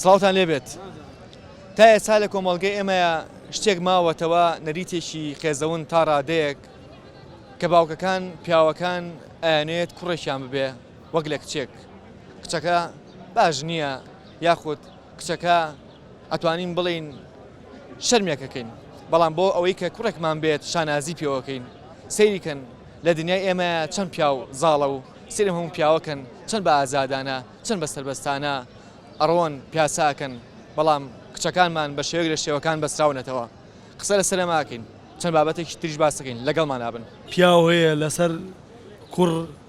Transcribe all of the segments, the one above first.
سڵاوتان لێ بێت تا ئێستا لە کۆمەڵگەی ئێمەیە شتێک ماوەتەوە نەریتێکی قێزەون تا ڕادەیەک کە باوکەکان پیاوەکان ئەیانێت کوڕێکیان ببێ وەک لە کچێک کچەکە باش نییە یاخود کچەکە ئەتوانین بڵێین شەرمێکەکەین بەڵام بۆ ئەوەی کە کوڕێکمان بێت شانازی پێوەکەین سەیریکەن لە دنیای ئێمە چەند پیاو زاڵە و سرم هەموو پیاوەکەن چەند بە ئازادانە چەند بە سربەستانە ئەڕۆن پیاساکەن بەڵام کچەکانمان بە شێوەک لە شێوەکان بەسراونەتەوە قسە لە سەرەماکەین چەند بابەتێکی تریش باسەکەین لەگەڵمانابن پیاو هەیە لەسەر کوڕ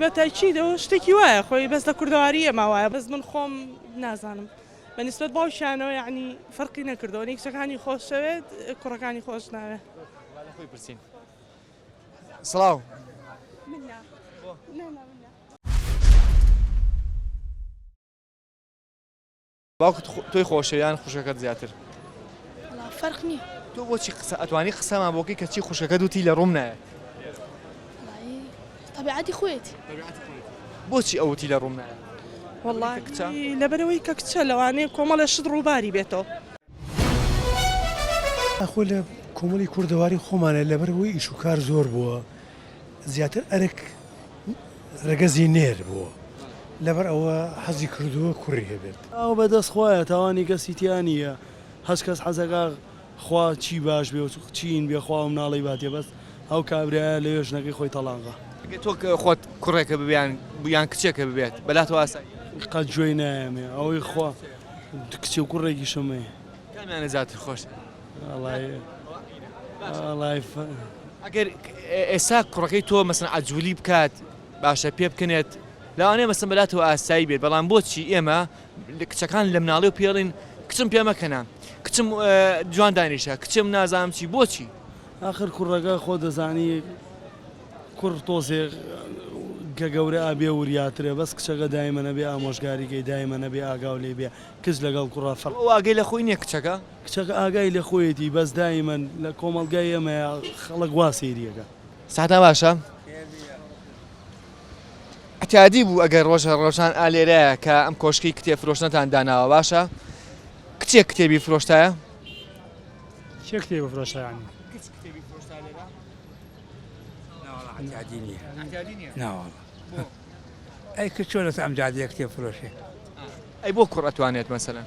بە تاکید ئەوە شتێکی وایە خۆی بەس لە کوردەواری ئێمە وایە بەس من خۆم نازانم بە نسبەت باوکیانەوە یعنی فەرقی نەکردەوە نە کچەکانی خۆشەوێت کوڕەکانی خۆش ناوێت لە خۆی پرسین سڵاو من نا. نا نا من نا. باوکت تۆی خۆشەوێ یان خوشکەکەت زیاتر؟ وەڵا فەرق نیە. تۆ بۆچی قسە ئەتوانی قسەمان بۆ بکەی کە چی خوشکەکەت وتی لە ڕووم نایەت؟ وەڵایی تەبیعەتی خۆیەتی. تەبیعەتی خۆیەتی. بۆچی ئەو وتی لە ڕووم نایەت؟ وەڵایی لەبەرئەوەی کە کچە لەوانەیە کۆمەڵێ شت ڕووباری بێتەوە. ئاخۆ لە کۆمەڵی کوردەواری خۆمانا لەبەر ئەوەی ئیش و کار زۆر بووە، زیاتر ئەرک رەگەزی نێر بووە لەبەر ئەوە حەزی کردووە کوڕی هەبێت. ئەوە بەدەست خوایە تاوانی کەسی تیا نیە هەچ کەس حەزەکا خوا چی باش بێ و چین بێ خوا و مناڵی باتێ بەس ئەو کابرایە لەوێ ژنەکەی خۆی تەڵاقە. ئەگەر تۆ خۆت کوڕێکە ببیان یان کچێکە ببێت بەلاتەوە ئاساییە؟ قەت گوێی نایەمێ ئەوەی خوا کچ و کوڕێکیشم هەیە. کامیانە زیاتر خۆشت؟ ئەگەر ئێستا کوڕەکەی تۆ مەسن عجولی بکات باشە پێ بکنێت لەوانێ مەسن بەلاتەوە ئاسایی بێت بەڵام بۆچی ئێمە کچەکان لە مناڵی و پێڵین کچم پێمەکەنا کچم جوان دانیشە کچم نازانم چی بۆچی آخر کوڕەکە خۆ دەزانی کوڕ تۆزێ کە گەورە ئابێ وریاترە بەس کچەکە دایمەە بێ ئامۆژگاریگەی دایمەە بێ ئاگااو لێ بێ کچ لەگەڵ کوڕە فەر واگەی لە خۆی نیە کچەکە کچەکە ئاگای لە خۆیەتی بەس دایمەن لە کۆمەڵگای ئێمەیا خەڵک وا سەیری ئەکا. ساتان باشە عتیادی بوو ئەگەر ڕۆژە ڕۆژان ئا لێرایە کە ئەم کۆشکی کتێب فرۆشتنەتان داناوە باشە کچێک کتێبی فرۆشتایە چێ کتێ بفرۆشتیان ناوەڵ ئەی کە چۆن لەس ئەم جادەیە کتێب فرۆشێ ئەی بۆ کوڕ ئەتوانێت مەسەلەن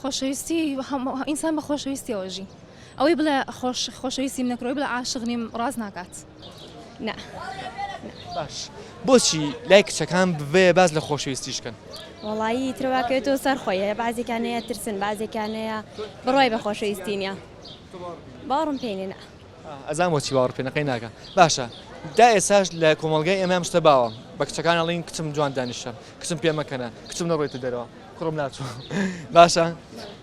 خۆشەویستی هەموو ئینسان بە خۆشەویستیەوە ژی ئەوەی بڵێ خۆش خۆشەویستیم نەکرۆی بڵێ عاشق نیم ڕاست ناکات نا باش بۆچی لای کچەکان بێ باز لە خۆشەویستیش کەن وڵایی ترواکەێتەوە سەر خۆیە بازێکانەیە ترسن بازێکانەیە بڕای بە خۆشەویستینە باڕم پێێنە ئەزان بۆچی باوەڕ پێ نەقەی ناکا باشە دا ئێساش لە کۆمەڵگای ئێمە ئەم شتە باوە بە کچەکان ئەڵین کچم جوان دانیشە کچم پێ مەکەنە کچم نەڕۆیتە دەرەوە کوڕم ناچوو باشە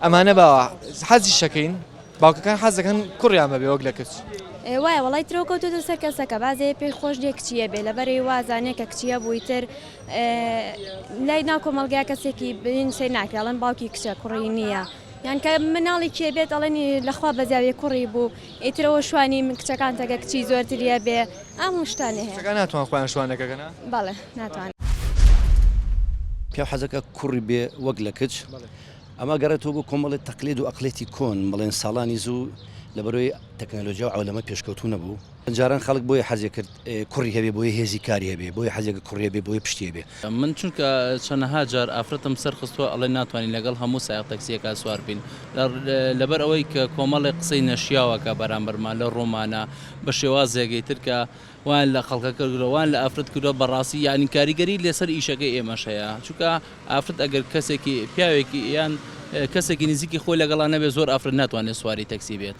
ئەمانە باوە حەزی شەکەین باوکەکان حەز دەکەن کوڕیان بەبێ وەک لە کچ ئێ وایە وڵی ترۆ کەوتوتە سەر کەسەکە بازێ پێی خۆش دێ کچیە بێ لەبەرەی وازانێ کە کچیە بووی تر لای ناو کۆمەلگا کەسێکی بین سەی ناکراڵن باوکی کچە کوڕی نییە. یان کە مناڵی کێ بێت ئەڵێنی لە خوا بەزاویە کوڕی بوو ئیتر ئەوە شوانی من کچەکان تەگە کچی زۆرتریە بێ ئەم وشتانێ هەیە کچەکان ناتوان خۆیان شوانەکەگەنە بەڵێ ناتوان. پیاو حەزەکە کوڕی بێ وەک لە کچ ئەمە گەڕێتەوە بۆ کۆمەڵێ تەقلید و ئەقڵێتی کۆن بڵێن ساڵانی زوو لەبەرۆی تەکنەلۆجیا و عەولەمە پێشکەوتوو نەبوو، جاران خەڵک بۆیە حەزێ کرد کوڕی هەبێ بۆیە هێزی کاری هەبێ بۆیە حەزێ کرد کوڕی هەبێ بۆیە پشتی هەبێ. من چونکە چەنەها جار ئافرەتم سەر خستوە ئەڵێن ناتوانین لەگەڵ هەموو سایەق تەکسیەکا سوار بین لەبەر ئەوەی کە کۆمەڵێک قسەی نەشیاو ئەکا بەرامبەرمان لە ڕوومانا بە شێوازێگەی تر کە وایان لە خەڵکە کردوە وایان لە ئافرەت کردوە بەڕاستی یانی کاریگەری لەسەر ئیشەکەی ئێمەش هەیە چونکە ئافرەت ئەگەر کەسێکی پیاوێکی یان کەسێکی نزیکی خۆی لەگەڵا نەبێ زۆر ئافرەت ناتوانێت سواری تەکسی بێت.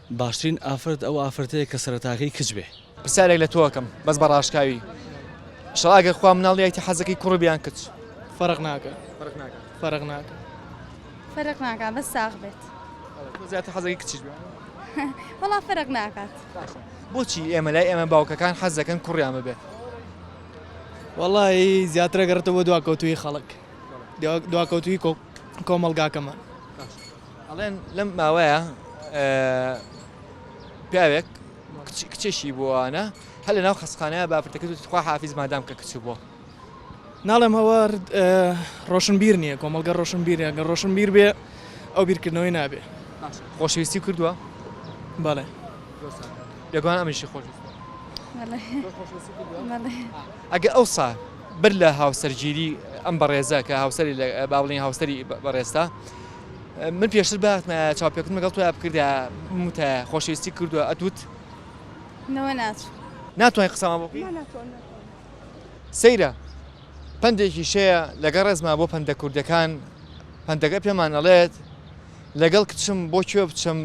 باشترین ئافرەت ئەو ئافرەتەیە کە سەرەتاکەی کچ بێ. پرسیارێک لە تۆ ئەکەم بەس بە ڕاشکاوی ئیشەڵا ئەگەر خوا مناڵیایتی حەزەکەی کوڕب یان کچ؟ فەرق ناکا فەرق ناکا فەرق ناکا فەرق ناکا بەس ساغ بێت بەڵێ تۆ زیاتر حەزەکەی کچیش بێ وەڵا فەرق ناکات باشە بۆچی ئێمە لای ئێمە باوکەکان حەز دەکەن کوڕیان ببێ وەڵایی زیاترە گەڕێتەوە بۆ دواکەوتووی خەڵک دواکەوتووی کۆمەڵگاکەمان ئەڵێن لەم ماوەیە پیاوێک کچێکی بۆوانە هە لە ناو خەسخانەیە بافرتەکە دوتی خوا حافیز مادام کە کچ بۆ ناڵێم ئەوە ڕۆشن بیر نییە کۆمەلگە ڕۆشن بیرەگە ڕۆشن بیر بێ ئەو بیرکردنەوەی نابێ خۆشەویستی کردووە بەڵێ لەگوان ئەمیشی خۆش ئەگە ئەو سا بەر لە هاوسەرگیری ئەم بەڕێزە کە هاوسری باڵین هاوسری بەڕێستا من پێشتر بەهاتمایە چاوپێکەوتن لەگەڵ تۆیا بکردایە بموتایە خۆشەویستی کردووە ئەتوت نەوە ناچوو ناتوانین قسەمان بۆ سەیرە پەندێکی شەیە لەگە ڕێزما بۆ پەندە کوردەکان پەندەکە پێمان ئەڵێت لەگەڵ کچم بۆ کوێ بچم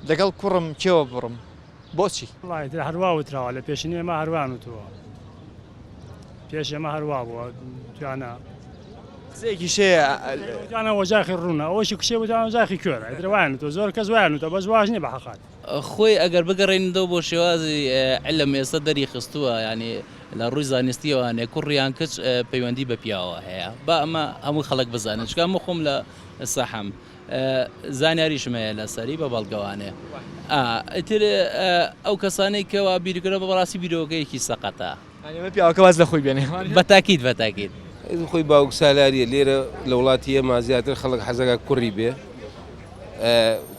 لەگەڵ کوڕم کێوە بڕم بۆچی؟ وەڵاهی تر هەر وا وتراوە لە پێشینەی ئێمە هەر وایان وتووە پێش ئێمە هەر وا بووە دویانە قسەیەکیش هەیە دویانە وەجاخی ڕوونە ئەوەشی کچێ بوو دویانە وەجاخی کوێرە ئیتر وایان وتووە زۆر کەس وایان وتووە بەس واش نییە بە حەقات. خۆی ئەگەر بگەڕێنیتەوە بۆ شێوازی علم ئێستا دەری خستووە یانی لە ڕووی زانستییەوە هەنێ کوڕ یان کچ پەیوەندی بە پیاوەوە هەیە با ئەمە هەموو خەڵک بزانێت چونکە ئەمە خۆم لە ساحەم زانیاریشم هەیە لەسەری بە بەڵگەوانێ ئا ئیتر ئەو کەسانەی کەوا بیرکرە بە بەڕاستی بیرۆکەیەکی سەقەتە ئەمە پیاوەکە باز لە خۆی بێنێ بە تاکید بە تاکید. خۆی باوک سالاریە لێرە لە وڵاتی ئێمە زیاتر خەڵک حەزەکە کوڕی بێ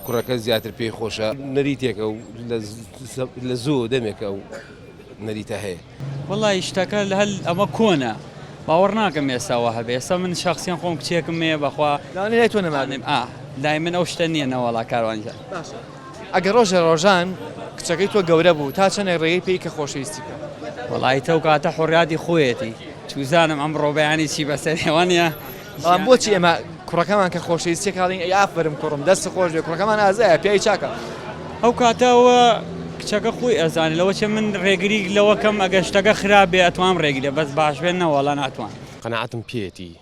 کوڕەکە زیاتر پێی خۆشە نەریتێکە و لە زوو دەمێکە و نەریتە هەیە. وەڵا ی شتەکە هەل ئەمە کۆنە باوەڕ ناکەم ئێستا وا هەبێ ئێستا من شەخسیەن خۆم کچێکم مەیە بەخوا لانی لای تۆ نەمابێ نانێم ئا لای من ئەو شتە نییە نەوەڵا کاروان جان. باشە ئەگەر ڕۆژێ ڕۆژان کچەکەی تۆ گەورە بوو تا چەنێک ڕێگەی پێی کە خۆشەویستی بکە؟ وەڵایی تەو کاتە حوڕیاتی خۆیەتی چوزانم ئەمڕۆ بەیانی چی بەسەرێ وانیە؟ بەڵام بۆچی ئێمە کوڕەکەمان کە خۆشەویست چێکاڵین ئەی ئافەرم کوڕم دەست خۆش بێ کوڕەکەمان ئازایە پیاوی چاکە ئەو کاتە ئەوە کچەکە خۆی ئەزانێت لەوە چێ من ڕێگری لەوە کەم ئەگەر شتەکە خراپ بێ ئەتوانم ڕێگری لێ بەس باش بێ نە وەڵا ناتوانم. قەناعەتم پێیەتی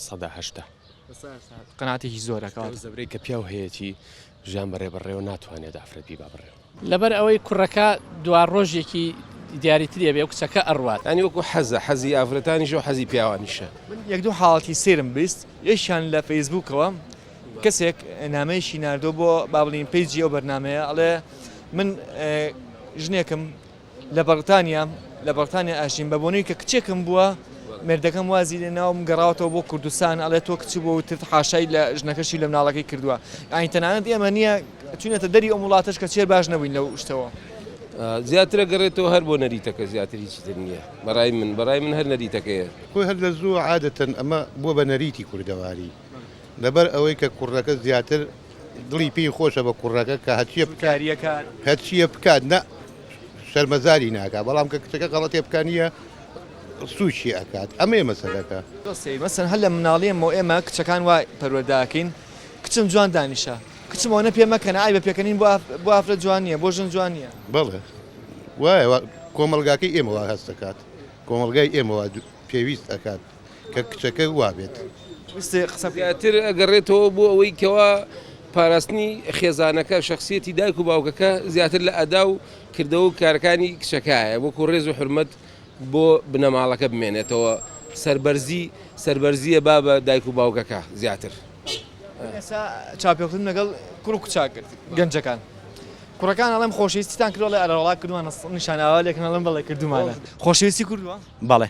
سەدا هەشتا. قەناعەتێکی زۆرە کەواتە. ئەو زەبرەی کە پیاو هەیەتی ژیان بەڕێ بەڕێوە ناتوانێت ئافرەت بیبا بڕێوە. لەبەر ئەوەی کوڕەکە دوا ڕۆژێکی دیاری تری ئەبێ و کچەکە ئەڕوات. یانی وەکو حەزە، حەزی ئافرەتانیشە و حەزی پیاوانیشە. من یەک دوو حاڵەتی سەیرم بیست، یەکیان لە فەیسبووکەوە کەسێک نامەیەکی ناردووە بۆ با بڵێین پەیجی ئەو بەرنامەیە ئەڵێ من ژنێکم لە بەڕتانیا لە بەڕتانیا ئەژیم بە بۆنەی کە کچێکم بووە مردەکەم وازی لێ ناوم گەڕاوەتەوە بۆ کوردستان ئەڵێ تۆ کچ بۆ وتت حاشای لە ژنەکەشی لە مناڵەکەی کردووە ئاین تەنانەت ئێمە نییە چونەتە دەری ئەو وڵاتەش کە چێر باش نەبووین لەو شتەوە زیاترە گەڕێتەوە هەر بۆ نەریتەکە زیاتر هیچی تر نییە بەڕای من بەڕای من هەر نەریتەکەیە خۆی هەر لە زووە عادەتەن ئەمە بووە بە نەریتی کوردەواری. لەبەر ئەوەی کە کوڕەکە زیاتر دڵی پێی خۆشە بە کوڕەکە کە هەرچیە بکات هەرچیە بکات نە شەرمەزاری ناکات بەڵام کە کچەکە غەڵەتێ بکە نییە سوچی ئەکات ئەمەیە مەسەلەکە مەسەن هەر لە مناڵیەمەوە ئێمە کچەکان وا پەروەردەئەکەین کچم جوان دانیشە کچم ئەوەنە پێ مەکەنە ئای بە پێکەنین بۆ ئافرەت جوان نییە بۆ ژن جوان نییە بەڵێ وایە کۆمەڵگاکەی ئێمەوە هەست دەکات کۆمەڵگای ئێمەوە پێویست ئەکات. کە کچەکە وا بێت. زیاتر ئەگەڕێتەوە بۆ ئەوەی کەوا پاراستنی خێزانەکە، شەخسیەتی دایک و باوکەکە زیاتر لە ئەدا و کردەوە و کارەکانی کچەکایە، وەکو ڕێز و حورمەت بۆ بنەماڵەکە بمێنێتەوە، سەربەرزی سەربەرزییە با بە دایک و باوکەکە زیاتر. ئێستا چاوپێکەوتنم لەگەڵ کوڕ و کچە کرد، گەنجەکان کوڕەکان ئەڵێم خۆشەویستیتان کردووە ئەڵێ ئەرەوەڵا کردوومانە، نیشانە ئاوا لێکەن ئەڵێم بەڵێ کردوومانە، خۆشەویستی کردووە؟ بەڵێ.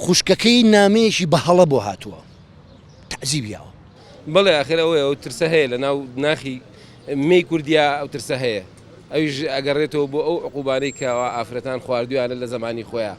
خوشکەکەی نامەیەکی بە هەڵە بۆ هاتووە تەعزیب یاوە. بەڵێ ئاخر ئەوەیە ئەو ترسە هەیە لە ناو ناخی مێی کوردیا ئەو ترسە هەیە ئەویش ئەگەڕێتەوە بۆ ئەو عقوبانەی کە ئەوە ئافرەتان خواردویانە لە زەمانی خۆیان.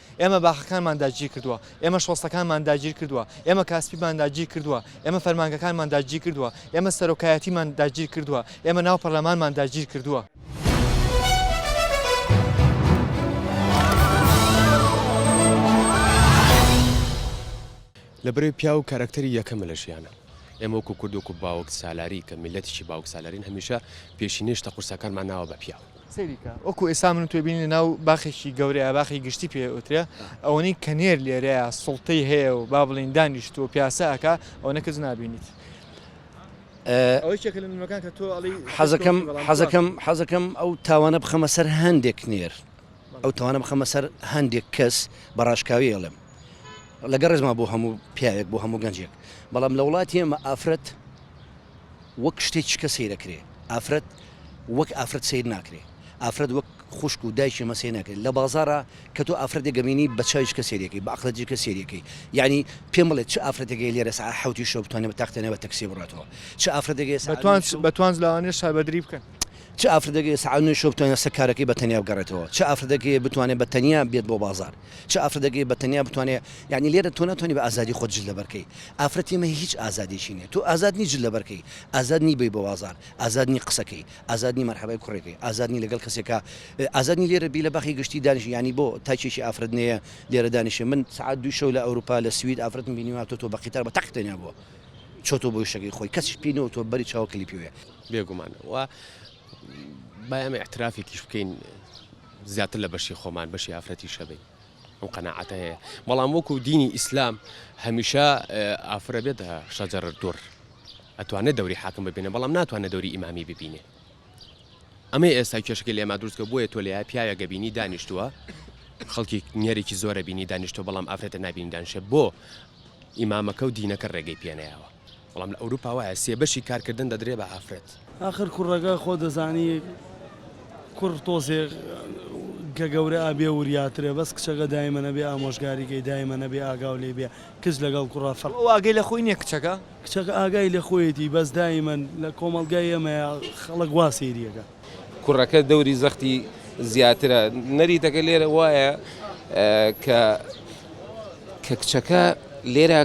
ئێمە باخەکانمان داگیر کردووە، ئێمە شۆستەکانمان داگیر کردووە، ئێمە کاسپیمان داگیر کردووە، ئێمە فەرمانگەکانمان داگیر کردووە، ئێمە سەرۆکایەتیمان داگیر کردووە، ئێمە ناو پەرلەمانمان داگیر کردووە. لە بەرەی پیاو کارەکتەری یەکەمە لە ژیانا. ئێمە وەکو کورد وەکو باوکسالاری کە میللەتێکی باوکسالارین هەمیشە پێشینەی شتە قورسەکانمان ناوە بە پیاو. سەیری کە وەکو ئێستا من و تۆی بین لە ناو باخێکی گەورەیە باخی گشتی پێ ئوترێ ئەوەنی کە نێر لێرەیە سڵتەی هەیە و با بڵین دانیشت و پیاسە ئەکا ئەوەنە کەس نابینیت حەزەکەم حەزەکەم حەزەکەم ئەو تاوانە بخەمە سەر هەندێک نێر ئەو تاوانە بخەمە سەر هەندێک کەس بە ڕاشکاوی ئەڵێم لەگە ڕێزما بۆ هەموو پیاوێک بۆ هەموو گەنجێک بەڵام لە وڵاتی ئەمە ئافرەت وەک شتێ چکە سەیرەکرێ ئافرەت وەک ئافرەت سەیر ناکرێ ئافرەت وەک خوشک و دایکی مەسەی نەکرێ لە بازارا کە تۆ ئافرەتێ گەبینی بە چاوی چکە سەیرەکەی بە عەقڵە جکە سەیرەکەی یەعنی پێم بڵێ چ ئافرەتێکەی لێرە سەعە حەوتی شەو بتوانێ بە تاختێنێ بە تەکسی بڕاتەوە چ ئافرەتێکەی سەعە بەتوانس بەتوانس لەوانێ شەربەدری بکەن. چ ئافرەتێکەی سەعە نۆی شەو بتوانێ سەکارەکەی بە تەنیا بگەڕێتەوە چ ئافرەتێکەی بتوانێ بە تەنیا بێت بۆ بازار چ ئافرەتەکێ بە تەنیا بتوانێ یانی لێرە تۆ ناتوانی بە ئازادی خۆت جل لەبەر کەی ئافرەتی مە هیچ ئازادێکی نیە تۆ ئازاد نی جل لەبەر کەی ئازاد نی بی بە وازار ئازاد نی قسە کەی ئازاد نی مەرحەبای کوڕێ کەی ئازاد نی لەگەڵ کەسێ کا ئازاد نی لێرە بی لە باخی گشتی دانیش یانی بۆ تاکێکی ئافرەت نێە لێرە دانیشێ من سەعات دووی شەو لە ئەوروپا لە سوید ئافرەتم بینیوە هاتۆتۆ بە قیتار بە تەق تەنیا بۆ چۆتۆ بۆی شەکەی خۆی کەسیش پی نەوتوە بەری چاوە کلیپی وێ. بێگومان و با ئێمە ئیعترافێکیش بکەین زیاتر لە بەشی خۆمان بەشی ئافرەتی شەبین ئەم قەناعەتە هەیە بەڵام وەکو دینی ئیسلام هەمیشە ئافرە بێتە شەجەر دوڕ ئەتوانێت دەوری حاکم ببینە بەڵام ناتوانێت دەوری ئیمامی ببینێ ئەمەی ئێستا کێشەکە لێما دروستکە بۆیە تۆ لە پیاوە گەبینی دانیشتووە خەڵکی نێرێکی زۆرە بینی دانیشتۆ بەڵام ئافرەتە نبینی دانشە بۆ ئیمامەکە و دینەکە ڕێگەی پێنەیەوە بەڵام لە ئەوروپا وایە سێ بەشی کارکردن دەدرێ بە ئافرەت. ئاخر کوڕەکە خۆ دەزانی کوڕ تۆزێ کە گەورە ئەبێ وریاترە بەس کچەکە دایمەن ئەبێ ئامۆژگاری کەی دایمەن ئەبێ ئاگاو لێی بێ کچ لەگەڵ کوڕا فەرق ئەو ئاگەی لە خۆی نیە کچەکە. کچەکە ئاگای لە خۆیەتی بەس دایمەن لە کۆمەڵگای ئێمەیا خەڵک وا سەیری ئەکا. کوڕەکە دەوری زەختی زیاترە. نەریتەکە لێرە وایە کە کە کچەکە لێرە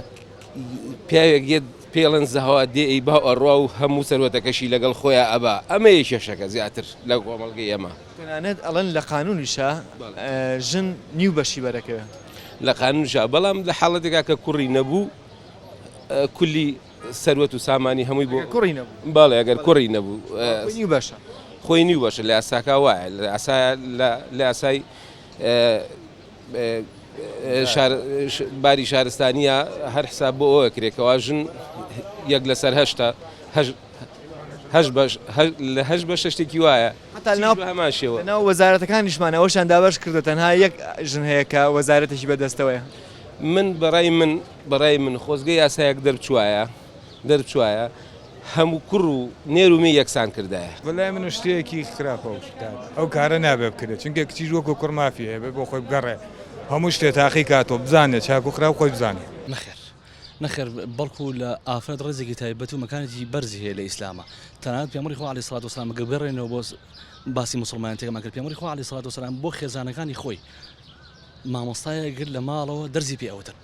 پیاوێک یەت پێڵێن زەهەوا دێ ئەی با ئەڕوا و هەموو سەروەتەکەشی لەگەڵ خۆیا ئەبا ئەمەیە کێشەکە زیاتر لە کۆمەڵگەی ئێمە. تەنانەت ئەڵێن لە قانوونیشا ژن نیو بەشی بەرەکەوێ. لە قانوونیشا بەڵام لە حاڵەتێکا کە کوڕی نەبوو کولی. سەروەت و سامانی هەمووی بۆ کوڕی نەبوو بەڵێ ئەگەر کوڕی نەبوو خۆی بەشە خۆی نیو بەشە لە یاساکە وایە لە یاسا لە یاسای باری شارستانیە هەر حساب بۆ ئەوە کرێکەوە ژن یەک لەسەر هەشتا لە هەش بە شتێکی وایە هەماشەوە ناو وەزارەتەکان نیشمانەوەشان دابش کردو تەنها یەک ژن هەیە کە وەزارەتێکی بەدەستەوەی من بەڕای من بەڕای من خۆزگە یاسایەک دەربچوایە دەربچوایە هەموو کوڕ و نێر و مێی یەکسان کردایە. بەلای من شتێکی خراپ ئەوشتانە ئەو کارە نابێ بکرێ چونکێ کچیش وەکو کوڕ مافی هەیە بێ بۆ خۆی بگەڕێ هەموو شتێ تاقی کاتۆ بزانێ چاکو خراپ خۆی بزانێ. نەخێر نەخێر بەڵکو لە ئافرەت ڕێزێکی تایبەت و مەکانێکی بەرزی هەیە لە ئیسلامە تەنانەت پێمبەری خوا علی سڵات وسلام گە بگەڕێنەوە بۆ باسی مسلمان تێکمان کرد پێمبەری خوا علی سڵات وسلام بۆ خێزانەکانی خۆی مامۆستایە گر لە ماڵەوە دەرزی پێ ئەوتن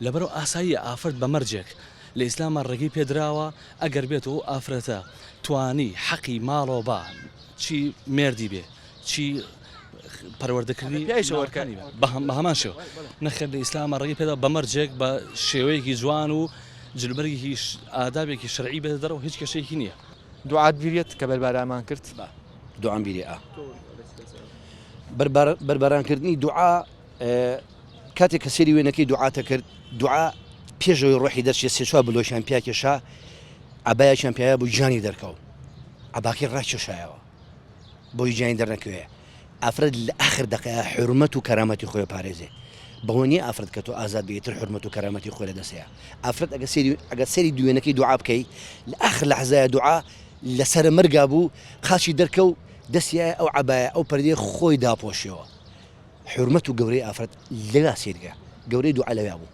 لەبەرو ئاساییە ئافرەت بە مەرجێک لە ئیسلامە ڕێگەی پێ دراوە ئەگەر بێت و ئەو ئافرەتە توانی حەقی ماڵەوە با چی مێردی بێ چی پەروەردەکردنی پیایشە وەرکە ناوەکانی بێ بە بە هەمان شێوە نەخێر لە ئیسلامە ڕێگەی پێ دراوە بە مەرجێک بە شێوەیەکی جوان و جلوبەرگێکی ش ئادابێکی شەرعی بێتە دەرەوە هیچ کێشەیەکی نییە. دوعات بیر یەت کە بەربارامان کرد؟ دوعام بیرێ ئا بەرباران کردنی دوعا. کاتێک کە سێری وێنەکەی دوعاتە کرد دوعا پێشەوەی ڕۆحی دەرچێت سێ چوار بلۆکیان پیاکێشا عبایەکیان پیاە بوو گیانی دەرکەوت عباکەی ڕاکێشایەوە بۆی گیانی دەرنەکەوێ ئافرەت لە ئاخر دەقەیە حرمەت و کەرامەتی خۆی پارێزێ بەوەنی ئافرەت کە تۆ ئازاد بێتتر حرمەت و کەرامەتی خۆی لە دەسەیە ئافرەت ئەگە سری ئەگە سری دوێنەکەی دوعا بکەی لە ئاخر لە حزای دوعا لەسرە مەرگا بوو قاچی دەرکە و دەستیایە ئەو عبایە ئەو پردێ خۆی داپۆشیەوە حورمەت و گەورەی ئافرەت لەوێا سەیرکە گەورەی دوعا لەوێا بوو.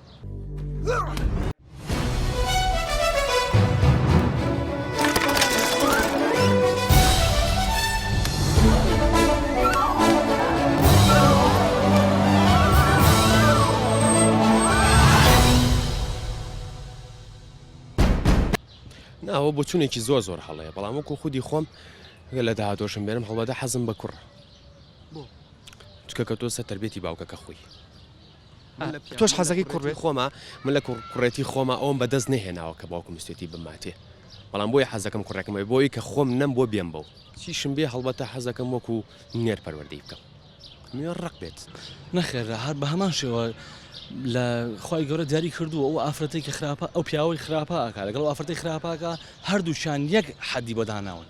ناوە بۆچونێکی زۆر زۆر هەڵەیە بەڵام وەکو خودی خۆم لە داهاتۆشم بێنم هەڵبەدە حەزم بە کوڕ بۆ چکە کە تۆ سە تەربێتی باوکە کە خۆی تۆش حەزەکەی کوڕێ خۆما من لە کوڕێتی خۆما ئەوم بەدەست نهێناوە کە باوکم مستێتی بماتێ بەڵام بۆی حەزەکەم کوڕێکمەوەی بۆی کە خۆم نەم بۆ بێم بەو چیشم بێ هەڵبەتە حەزەکەم وەکو نێر پەروەردەی بکەم نوێ ڕق بێت نەخێرا هەر بە هەمان شێوە لە خی گەورە دیاری کردو ئەو ئافرەتی کە خراپە ئەو پیاوەی خراپە ئاکا لەگەڵ ئافرەتی خراپاکە هەردووچان یەک حەدی بۆداناون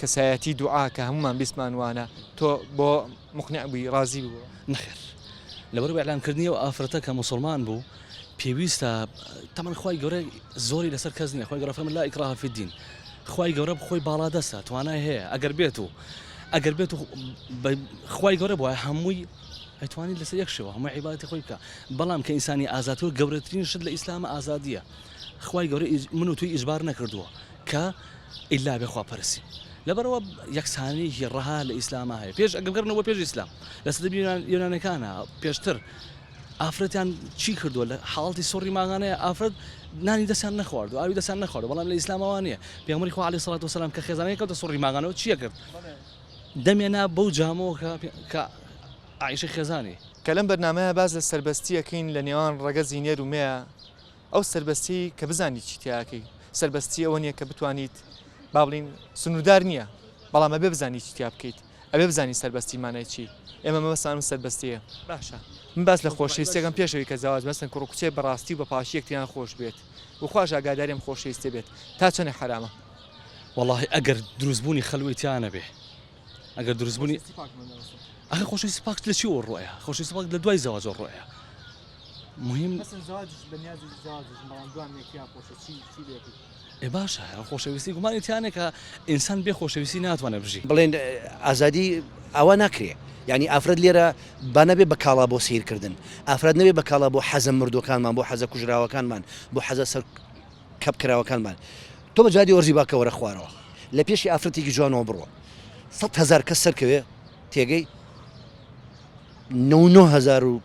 کەسایەتی دوعا کە هەموومان بیستمان وانە تۆ بۆ مقنع بووی ڕازی بووە؟ نەخێر لەبەر ئەوەی ئیعلام کردنی ئەو ئافرەتە کە موسڵمان بوو پێویستە تەمەن خوای گەورە زۆری لەسەر کەس نییە خوای گەورە فەرمووی لا ئیکراهە فی الدین خوای گەورە بخۆی باڵادەستە توانای هەیە ئەگەر بێت و ئەگەر بێت و خوای گەورە بووە هەمووی ئەتوانی لەسەر یەک شێوە هەموو عیباتی خۆی بکە بەڵام کە ئینسانی ئازادتر گەورەترین شت لە ئیسلامە ئازادیە خوای گەورە من و توی ئیجبار نەکردووە کە ئیلا بێ خواپەرسی لەبەرئەوە یەکسانیی ڕەها لە ئیسلاما هەیە پێش ئەگەر بگەڕێنەوە بۆ پێش ئیسلام لە سەدە یۆنان یۆنانەکانا پێشتر ئافرەتیان چی کردووە لە حاڵەتی سوڕی ماغانەیە ئافرەت نانی دەستیان نەخوارد و ئاوی دەستیان نەخوارد بەڵام لە ئیسلامەوە نییە پێغەمبەری خوا عەلەیهی سڵات وسەلام کە خێزانەکەی کەوتە سوڕی ماغانەوە چییە کرد دەمیان نا بەو جامەوە کە کە عائیشەی خێزانی. کە لەم بەرنامەیە باس لە سەربەستییەکەین لە نێوان ڕەگەزی نێر و مێ، ئەو سەربەستیەی کە بزانیت چی تیا ئەکەی سەربەستی ئەوە نیە کە بتوانیت با بڵین سنوردار نیە بەڵام ئەبێ بزانی چی تیا بکەیت ئەبێ بزانی سەربەستی مانای چی ئێمە مەبەستمان ئەم سەربەستیە باشە من باس لە خۆشەویستیەکەم پێش ئەوی کە زەواج مەسن کوڕ و کچێ بەڕاستی و بە پاکی یەکتریان خۆش بێت و خواش ئاگاداری ئەم خۆشەویستیە بێت تا چەنێ حەرامە. وەڵاهی ئەگەر دروست بوونی خەلوەی تیا نەبێ ئەگەر دروست بوونی ئەخی خۆشەویستی پاک لە چیەوە ڕۆیە خۆشەویستی پاک لە دوای زەواجەوە ڕۆیە مهم ئێ باشە خۆشەویستی گومانی تیانە کە ئینسان بێ خۆشەویستی ناتوانێت بژی بڵێن ئازادی ئەوە ناکرێ ینی ئافرەت لێرە با نەبێ بە کاڵا بۆ سیرکردن ئافرەت نەبێ بە کاڵا بۆ حەزە مردوەکانمان بۆ حەزە کوژراوەکانمان بۆ حەزە سەر کپ کراوەکانمان تۆ بە جادی ئۆرزی باکە وەرە خوارەوە لە پێشی ئافرەتێکی جوانەوە بڕۆ سەد هەزار کەس سەرکەوێ تێگەی نە هزار و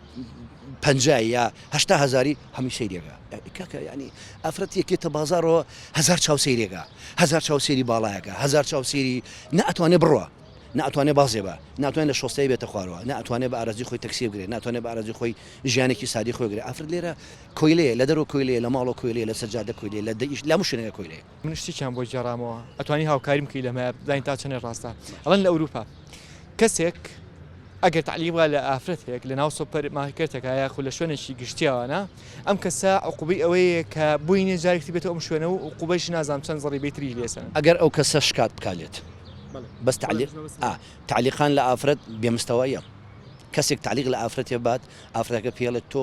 پ یا هشتا هزاری هەمی سەیرێگا کاکە ینی ئافرەت یەکێتە بازارەوە هزار چاو سەیرێگا هزار چاو سێری باڵایەکە هزار چاو سێری ناتوانێ بڕە ناتوانێت بازێ بە ناتوانێت لە شۆستەی بێتە خوارەوە ناتوانێت بە ئارزی خۆی تەکسی بگرێت ناتوانێت بە ئارزی خۆی ژیانێکی سادی خۆگرێت ئافرەت لێرە کۆیلەیە لە دەرەوە کۆیلەیە لە ماڵەوە کۆیلەیە لەسەر جادە کۆیلەیە لە دە ئیش لە هەموو شوێنێکا کۆیلەیە. من شتێکیان بۆ گێڕامەوە ئەتوانی هاوکاریم بکەی لەمەیا بزانین تا چەنێ ڕاستە ئەڵێن لە ئەوروپا کەسێک ئەگەر تەعلیق بکا لە ئافرەتێک لەناو سۆپەر مارکێتێکا یاخود لە شوێنێکی گشتیاوانە ئەم کەسە عقوبەی ئەوەیە کە بۆی نیە جارێکی تر بێتەوە ئەم شوێنە و عقوبەیشی نازانم چەند زەڕیبەی تریش لێ سەنن. ئەگەر ئەو کەسە شکات بکا لێت بەس تەعلیق ئا تەعلیقان لە ئافرەت بێ مستەواییە کەسێک تەعلیق لە ئافرەتێ بات ئافرەتەکە پێڵێت تۆ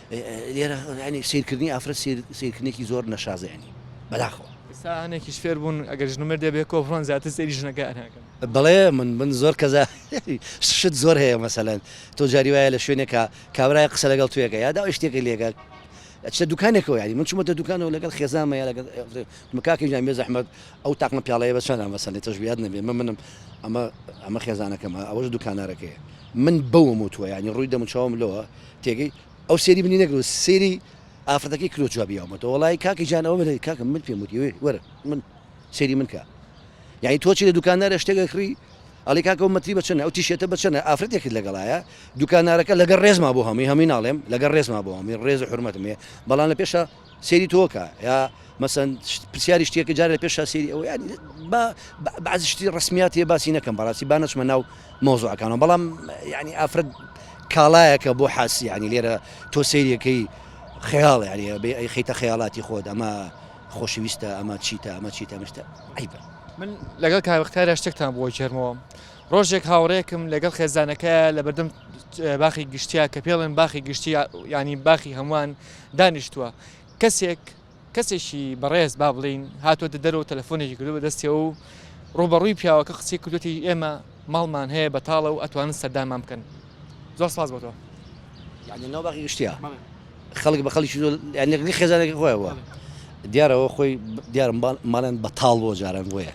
لێرە یانی سەیرکردنی ئافرەت سەیر سەیرکردنێکی زۆر نەشازە یانی بەداخەوە. ئێستا هەنێکیش فێر بوون ئەگەر ژن و مێردێ بێ کۆ بڕۆن زیاتر سەیری ژنەکان ئەکەن. بەڵێ من من زۆر کەزا شت زۆر هەیە مەسەلەن تۆ جاری وایە لە شوێنێکا کابرایەک قسە لەگەڵ توێکە یا داوای شتێکی لێکە ئەچتە دوکانێکەوە یانی من چوومەتە دوکانەوە لەگەڵ خێزانمە یا لەگەڵ من کاکە گیان بێ زەحمەت ئەو تاقمە پیاڵەیە بە چەندە مەسەلەی تۆش بیاد نەبێ من منم ئەمە ئەمە خێزانەکەمە ئەوەش دوکانارەکەیە من بەوەم وتووە یانی ڕووی دەموچاوم لەوە تێگەی ئەو سەیری منی نەکرد و سەیری ئافرەتەکەی کرد و جوابی ئەومەتەوە وەڵایی کاکە گیان ئەوە بەرێ کاکە من پێم وتی وێ وەرە من سەیری من کە یعنی تۆ چی لە دوکاندارە شتێکە کڕی ئەڵی کاکە ئەو مەتری بە چەنە ئەو تیشێتە بە چەنە ئافرەتێکت لەگەڵایە دوکاندارەکە لەگەڵ ڕێزما بۆ هەمووی هەمووی ناڵێم لەگەڵ ڕێزما بۆ هەمووی ڕێز و حورمەتم هەیە بەڵام لە پێشە سەیری تۆ کە یا مەسەن پرسیاری شتێکە جارە لە پێش شاسیری ئەوە یانی با بەعزی شتی ڕسمیاتی باسی نەکەم بەڕاستی با نەچمە ناو مۆزۆەکانەوە بەڵام ینی ئافرەت کاڵایەکە بۆ حاسی ینی لێرە تۆ سەیرەکەی خەیاڵ یاری بێ ئەی خیتە خەیاڵاتی خۆت ئەمە خۆشویستە ئەمە چیتە ئەمە چیتە مشتە عیبە من لەگەڵ کاوەختارە شتێکتان بۆ جێرمەوە ڕۆژێک هاوڕێکم لەگەڵ خێزانەکە لە بەردەم باخی گشتیا کە پێڵێن باخی گشتی ینی باخی هەمووان دانیشتووە کەسێک کەسێکی بەڕێز با بڵین هاتووەتە دەرەوە تەلەفۆنێکی کردو بەدەستیەوە و ڕوبەڕووی پیاوەکە قسەی کردوتی ئێمە ماڵمان هەیە بەتاڵە و ئەتوانن سەردانمان بکەن زۆر سپاس بۆ تۆ یعنی ناو باقی گشتیا خەڵک بە خەڵکی زۆر یعنی خێزانێکی خۆیەوە دیارەوە خۆی دیارم ماڵێن بەتاڵ بۆ جاران بۆیە